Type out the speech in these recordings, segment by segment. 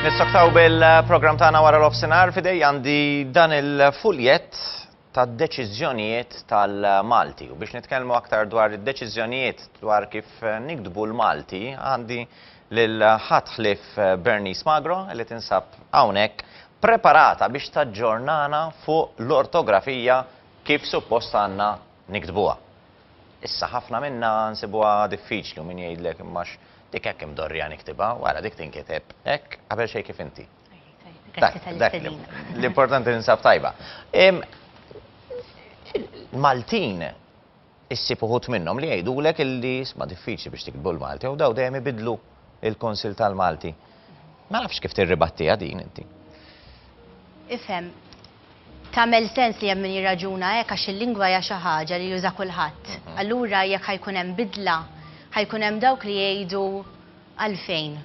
Nistaktaw bil-program tagħna wara l-offsinar fidej għandi dan il-fuljet tad deċiżjonijiet tal-Malti. U biex nitkellmu aktar dwar id-deċiżjonijiet dwar kif nikdbu l-Malti, għandi lil ħadd ħlief Bernice Magro li tinsab hawnhekk preparata biex taġġornana fuq l-ortografija kif suppost għandna niktbuha. Issa ħafna minnha nsibuha diffiċli u min jgħidlek imma għax dik hekk imdorrija niktibha, ara dik tinkiteb hekk qabel xejn kif inti. Grazzi tal-istedina. L-importanti tinsab tajba. Maltin Issib uħud minnhom li jgħidulek illi isma' diffiċli biex tiktbu l-Malti u daw dejjem ibiddlu l-Kunsill tal-Malti. Ma nafx kif tirribattiha din inti. Ifhem, tagħmel sens li hemm min jirraġuna hekk għax il-lingwa hija xi ħaġa li juża kulħadd. Allura jekk ħa jkun hemm bidla, ħa jkun hemm dawk li jgħidu għalfejn.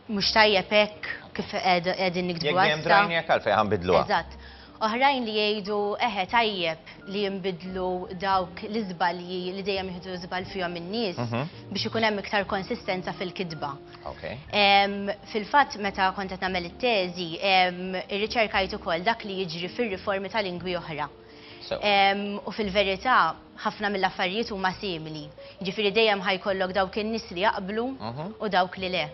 Mhux tajjeb hekk kif qegħdin niktbu għassa. Jekk dejjem trajni hekk għalfejn ħanbidluha. Eżatt. Oħrajn li jgħidu eħe tajjeb li jinbidlu dawk l-iżbalji li dejjem jieħdu żball fihom in-nies biex ikun hemm iktar konsistenza fil-kitba. Fil-fatt meta kont qed nagħmel it-teżi, irriċerkajt ukoll dak li jiġri fir-riformi ta' lingwi oħra. U fil-verità, ħafna mill-affarijiet huma simili. Jiġifieri dejjem ħajkollok dawk in-nies li jaqblu mhm. u dawk li le.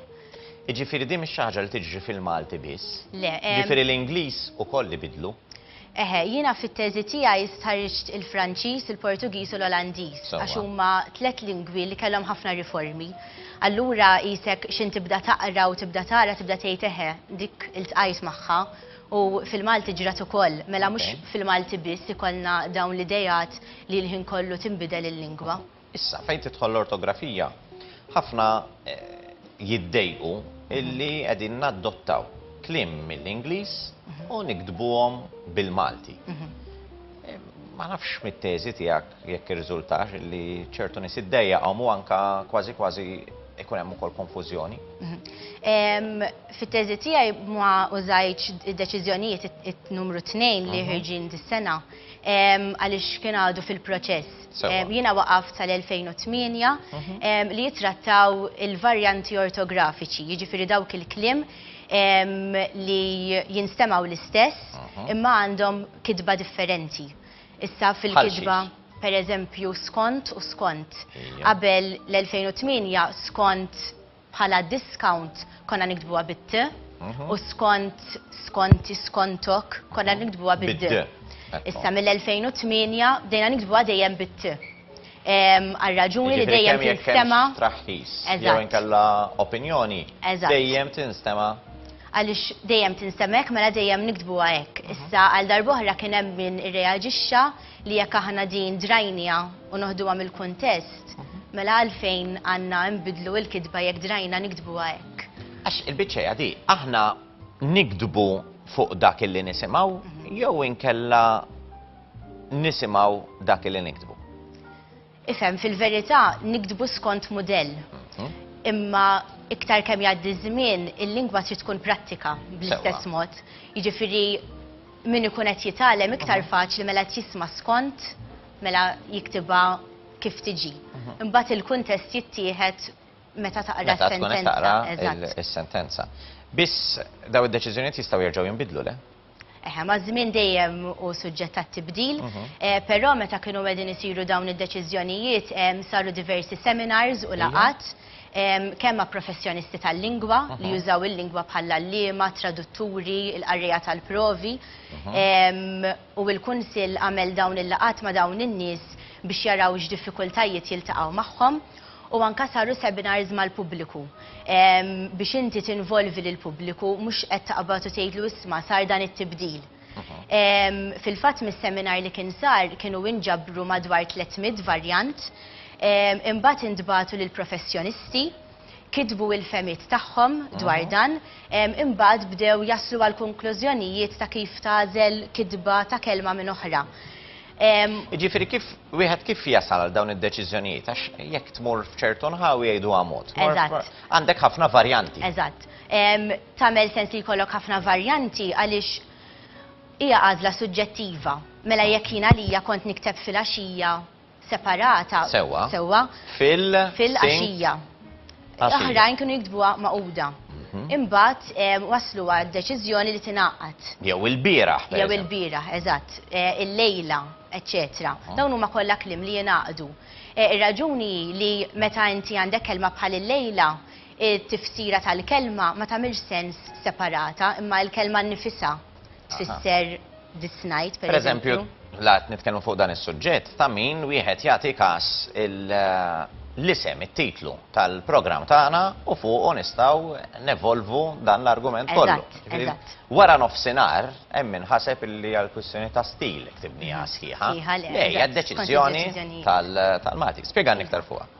Jiġifieri din mhix xi ħaġa li tiġri fil-Malti biss. Le. Jiġifieri l-Ingliż ukoll ibidlu. Eħe, jiena fit-teżi tiegħi stħarriġt il-Franċiż, il-Portugiż u l-Olandiż għax huma tliet lingwi li kellhom ħafna riformi. Allura jisek xin tibda taqra u tibda tara tibda tgħid eħe dik il-tqajt magħha U fil-Malti ġrat ukoll, mela mhux Ok. fil-Malti biss ikollna dawn l-ideat li l-ħin kollu tinbidel il-lingwa. Issa, fejn tidħol l-ortografija, ħafna jiddejqu illi qegħdin naddottaw kliem mill-Ingliż u niktbuhom bil-Malti. Ma nafx mit-teżi tiegħek, Jekk irriżultax li ċertu nies iddejjaqhom u anke kważi kważi ikun hemm ukoll konfużjoni. Mhm. Fit-teżi tiegħi ma użajtx id-deċiżjonijiet it-numru tnejn li mhm. ħirġin dis-sena għaliex kien għadu fil-proċess. Jiena waqaft sal-2008 mhm. li jitrattaw il-varjanti ortografiċi, jiġifieri dawk il-klim li jinstemaw l-istess imma għandhom kitba differenti. Issa fil-kitba, pereżempju, skont u skont. Qabel l-2008 skont bħala discount konna niktbuha bit-t u skont, skonti, skontok konna niktbuha bid-d. Issa mill-2008 bdejna niktbuha dejjem bit-t. għal raġuni li dejjem tinstema. Traħħis, jew inkella opinjoni, dejjem tinstema. Għalix dejjem tinstemek, mela dejjem niktbu għek. Mhm. Issa għal darbohra kien hemm min irreaġixxa li jekk aħna din drajnija u noħduha mill-kuntest, mhm. mela għalfejn għandna nbidlu il-kitba jekk drajna niktbu għek. Għax il-biċċa jadi, aħna nikdbu fuq dak illi nisimaw, mhm. jew inkella nisimgħu dak li niktbu. Ifhem, fil-verità niktbu skont mudell. Mhm. Imma iktar kemm jgħaddi żmien, il-lingwa trid tkun prattika bl-istess mod. Jiġifieri min ikun qed jitgħallem iktar mhm. faċli mela qed jisma' skont mela jiktibha kif tiġi. Mhm. Imbagħad il-kuntest jittieħed meta taqra s-sentenza. Meta taqra s-sentenza. Biss daw id-deċiżjonijiet jistgħu jerġgħu jinbidlu le? Eħe, ma' żmien dejjem u suġġett għat-tibdil, però meta kienu qegħdin isiru dawn id-deċiżjonijiet saru diversi seminars u laqgħat kemm ma' professjonisti tal-lingwa li jużaw il-lingwa bħall-għalliema, tradutturi, il-qarrejja tal-provi u l-Kunsill għamel dawn il-laqgħat ma' dawn in-nies biex jaraw x'diffikultajiet jiltaqgħu magħhom. u anke saru seminars mal-pubbliku biex inti tinvolvi lill-pubbliku mhux qed taqbad u tgħidlu isma' sar dan it-tibdil. Fil-fatt mis-seminar li kien sar kienu inġabru madwar 300 varjant, imbagħad intbagħtu lill-professjonisti, kitbu il-fehmiet tagħhom dwar dan, imbagħad bdew jaslu għall-konklużjonijiet ta' kif tagħżel kitba ta' kelma minn oħra. Jiġifieri kif wieħed kif jasal għal dawn id-deċiżjonijiet għax jekk tmur f'ċertu nħawi jgħidu mod. Eżatt. Għandek ħafna varjanti. Eżatt. Tagħmel sens li jkollok ħafna varjanti għaliex hija għażla suġġettiva. Mela jekk jien għalija kont nikteb fil-għaxija separata. Sewwa. Sewwa. Fil. Fil-għaxija. Oħrajn kienu jiktbuha magħquda. Imbagħad waslu għad-deċiżjoni li tingħaqad. Jew ilbieraħ. Jew ilbieraħ, eżatt. Illejla, eċċetera. Dawn huma kollha kliem li jingħaqdu. Ir-raġuni hi li meta inti għandek kelma bħal illejla, it-tifsira tal-kelma ma tagħmilx sens separata, imma l-kelma nnifisha. tfisser dis-snajd, per eżempju. La nitkellmu fuq dan is-suġġett ta' min wieħed jagħti każ eh, l-isem, it-titlu tal-programm tagħna u fuq nistgħu nevolvu dan l-argument kollu. Wara nofsinhar hemm min ħaseb illi għal kwistjoni ta' stil ktibni sħiħa. Ejja, deċiżjoni tal-Malti. Spjegani iktar fuqha.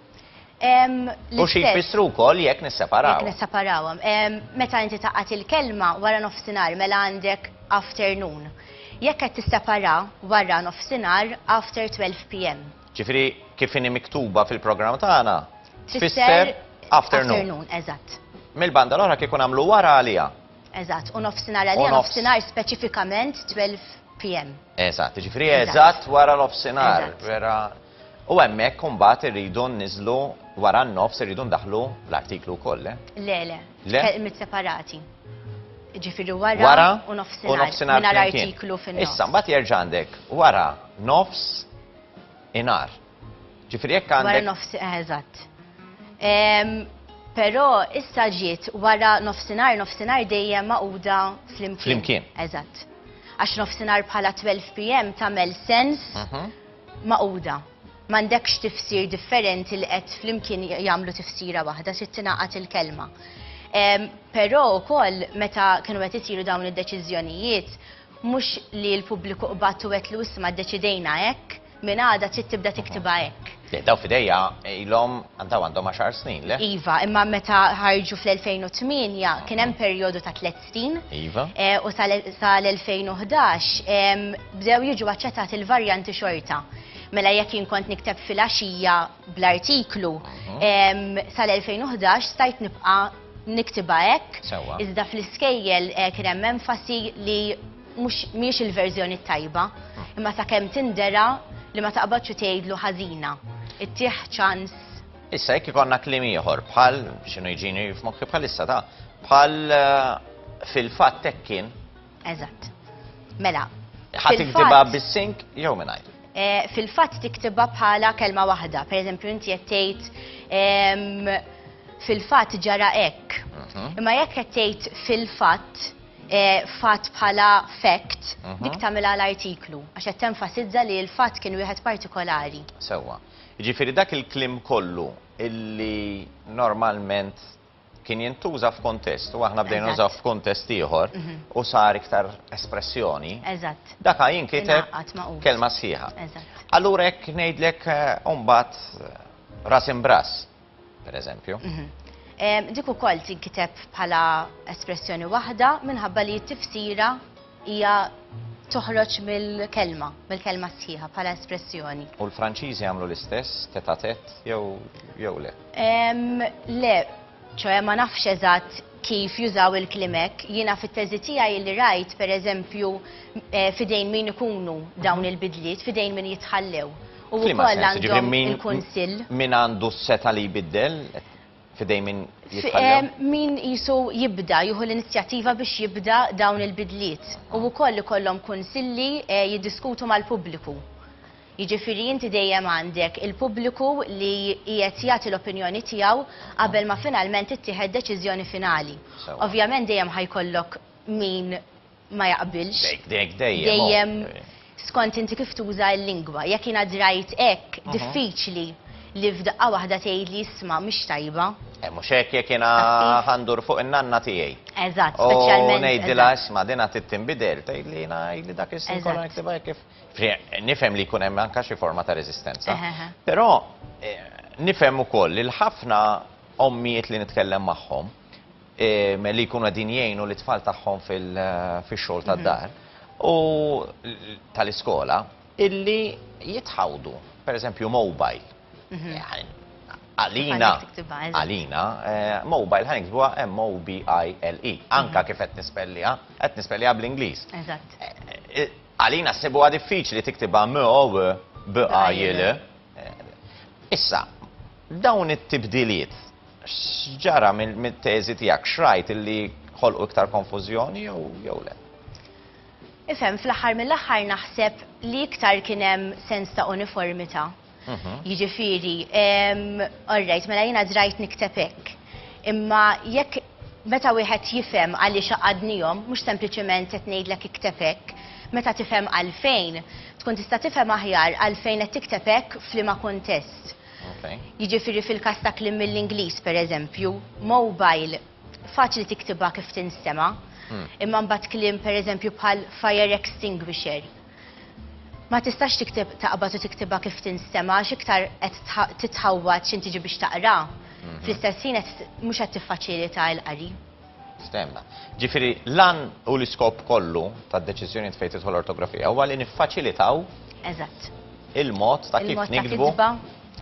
U xi jfissru wkoll jekk nisseparaw. Jekk nisseparawhom. Meta inti taqgħad il-kelma wara nofsinhar mela għandek afternoon. Jekk qed tissepara wara nofsinhar after 12 PM. Ġifieri kif inhi miktuba fil-programm tagħna tfisser afternoon. Afternoon, eżatt. Mill-banda l-oħra kieku nagħmlu wara għaliha. Eżatt, u nofsinhar għaliha nofsinhar speċifikament 12 PM. Eżatt, jiġifieri eżatt wara nofsinhar. Vera. U hemmhekk imbagħad irridu nniżlu wara n-nofs irridu ndaħħlu l-artiklu wkoll, le? Le, le. Le? Kelmiet separati. Ġifieri wara, wara u nofsinhar. U nofsinhar. Mingħajr artiklu fin-nofs. Issa mbagħad jerġa' għandek wara nofs inar. Ġifieri jekk għandek. Wara nofs eh, eżatt. Però issa ġiet wara nofsinhar, nofsinhar dejjem maquda flimkien. Flimkien. Eżatt. Għax nofsinhar bħala 12 pm tagħmel sens. Mhm. magħquda. M'għandekx tifsir differenti li qed flimkien jagħmlu tifsira waħda, trid tingħaqad il-kelma. Però wkoll meta kienu qed isiru dawn id-deċiżjonijiet, mhux li l-pubbliku qbad u għedtlu isma' ddeċidejna hekk, minn għada trid tibda tiktibha hekk. Le, daw f'idejja ilhom daw għandhom għaxar snin, le? Iva, imma meta ħarġu fl-2008 kien hemm perjodu ta' tliet Iva. U sal-2011 bdew jiġu aċċettati l-varjanti xorta. Mela jekk jien kont nikteb fil-għaxija bl-artiklu, sal-2011 stajt nibqa' niktibha hekk. Sewwa. Iżda fl-iskejjel kien hemm enfasi li mhux mhijiex il-verżjoni t-tajba, imma sakemm tindera li ma taqbadx u tgħidlu ħażina. Ittih ċans. Issa jekk ikonna kliem ieħor bħal x'inhu jġini f'mokki bħalissa ta' bħal eh, fil-fatt hekk kien. Eżatt. Mela. Ħadd tiktibha bis-sink jew mingħajr. Eh, fil-fatt tiktibha bħala kelma waħda. Pereżempju inti qed tgħid ehm, fil-fatt ġara hekk. Mhm. Imma jekk qed tgħid fil-fatt eh, fatt bħala fact, mhm. dik tagħmilha l-artiklu għax qed tenfasizza li l-fatt kien wieħed partikolari. Sewwa. Jiġifieri dak il-kliem kollu illi normalment kien jintuża f'kuntest u aħna bdejna nużawh f'kuntest ieħor u sar iktar espressjoni, daka jinkiteb kelma sħiħa. Allura jekk ngħidlek mbagħad ras imbrass. pereżempju. Dik ukoll tinkiteb bħala espressjoni waħda minħabba li t-tifsira hija toħroġ mill-kelma, mill-kelma sħiħa bħala espressjoni. U l-Franċiżi jagħmlu l-istess, tête à tête jew le? Le, ċoe ma nafx eżatt kif jużaw il-kliem hekk. Jiena fit-teżi tiegħi li rajt pereżempju f'idejn min ikunu dawn il-bidliet, f'idejn min jitħallew. U F'liema wkoll sens? Jiġifieri għandhom min il-Kunsill. min għandu s-setgħa li jbiddel f'idejn min F- jitħallew? eh, Min qisu jibda, jieħu l-inizjattiva biex jibda dawn il-bidliet. U wkoll ikollhom kunsilli eh, jiddiskutu mal-pubbliku. Jiġifieri inti dejjem għandek il-pubbliku li qiegħed jagħti l-opinjoni tiegħu qabel ma finalment tittieħed deċiżjoni finali. Sewwa. Ovvjament dejjem ħajkollok min ma jaqbilx. Dejjem skont inti kif tuża l-lingwa. Jekk jien għad rajt hekk, diffiċli li f'daqqa waħda tgħidli isma' mhix tajba. Eh mhux hekk jekk jiena ħa ndur fuq in-nanna tiegħi. Eżatt, speċjalment. U ngħidilha isma' din għad trid tinbidel, tgħidli jiena għidli dak is-snin kollha niktibha hekk kif. Nifhem li jkun hemm anke xi forma ta' reżistenza. Però nifhem ukoll li l-ħafna ommijiet li nitkellem magħhom, li jkunu qegħdin jgħinu lit-tfal tagħhom fix-xogħol tad-dar u tal-iskola illi jitħawdu, pereżempju mobile. Għalina, għalina, mobile ħa niktbuha M-O-B-I-L-E. Anke kif qed nispelliha, qed nispelliha bl-Ingliż. Għalina ssibuha diffiċli tiktibha M-O-B-I-L-E. Issa, dawn it-tibdiliet, X'ġara mit-teżi tiegħek? X'rajt illi ħolqu iktar konfużjoni jew le? Ifhem, fl-aħħar mill-aħħar naħseb li iktar kien hemm sens ta' uniformità. Jiġifieri, all right, mela jiena drajt nikteb hekk. Imma jekk meta wieħed jifhem għaliex għaqadnihom, mhux sempliċement qed ngħidlek ikteb hekk, meta tifhem għalfejn, tkun tista' tifhem aħjar għalfejn qed tikteb hekk f'liema kuntest. Jiġifieri fil-każ ta' kliem mill-Ingliż, pereżempju, mobile faċli tiktibha kif tinstema', imma mbagħad kliem pereżempju bħal fire extinguisher ma tistax tikteb taqbad u tiktibha kif tinstema' għax iktar qed titħawwad x'intiġi biex taqra, fl-istess ħin qed mhux qed tiffaċilita l-qari. Stehemna. Ġifieri, l-għan u l-iskop kollu tad-deċiżjonijiet fejn tidħol l-ortografija huwa li niffaċilitaw. Eżatt. Il-mod ta' kif niktbu.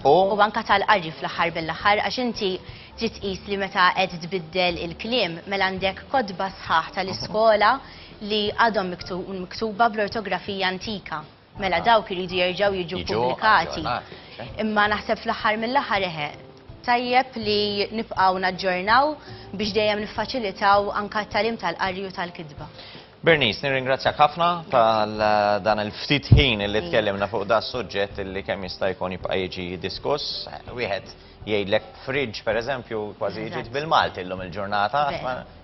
U anke tal-qari fl-aħħar mill-aħħar għax inti trid tqis li meta qed tbiddel il-kliem mela għandek kotba sħaħ tal-iskola li għadhom miktuba bl-ortografija antika. Mela dawk iridu jerġgħu jiġu ppubblikati. Imma naħseb fl-aħħar mill-aħħar eħe, tajjeb li nibqgħu naġġornaw biex dejjem niffaċilitaw anke t-tagħlim tal-qari u tal-kitba. Bernice, nirringrazzjak ħafna tal dan il-ftit ħin li tkellimna fuq da suġġett li kemm jista' jkun jibqa' jiġi diskuss. Wieħed Jgħidlek fridge, per eżempju, kważi ġiet bil-Malti llum il-ġurnata,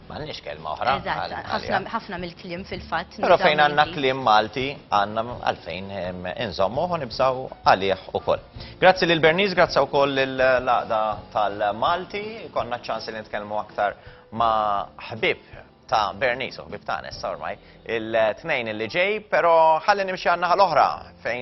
m'għandniex kelma oħra. Eżatt, ħafna mill-kliem fil-fatt. Però fejn għandna kliem Malti, għandna għalfejn inżommuh u nibżgħu għalih ukoll. Grazzi lil Bernice, grazzi wkoll lill-Għaqda tal-Malti, konna ċans li nitkellmu aktar ma' ħbib ta' Bernice u ħbib ta' Nessa ormai, il-tnejn li ġej, però ħalli nimxi għan-naħa l-oħra fejn